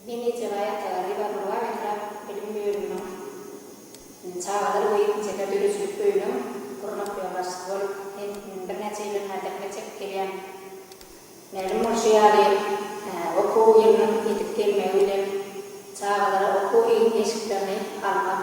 Meni Tewaýy Atalar Ribanuwa etrap bilim bölüminiň çagalar we ýetginjekler döredijilik öýüniň gurmak ýolbaşçysy bolup hem birnäçe ýyllaryň bäri zähmet çekip gelýän. Mälim bolşy ýaly, okuw ýylynyň ýetip gelmegi bilen çagalara okuw eşiklerini almak,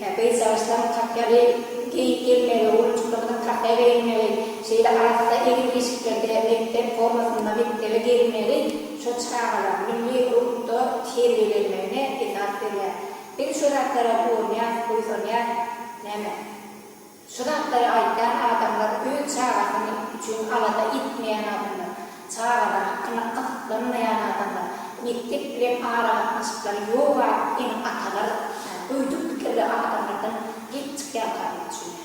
Hä, gyzjagaşlaryň kapýaly geýip gelmegi, oglanjyklarymyzyň kapýa geýinmegi, şeýle arassa egin-eşiklerde mekdep formasynda mekdebe gelmegi şo çagalar milli ruhda terbiýelenmegine esas berýär. Biz şo zatlara guwanýarys, buýsanýarys. Näme? Şu zatlary aýdýan adamlar öz çagasyn üçin alada etmeýän adamlar, çagalary hakynda gyzyklanmaýan adamlar, mekdep bilen aragatnaşyklary ýok adyp ene atalar ýaly göýdük pikirli adamlardan gelip çykýankagyna düşünýärler.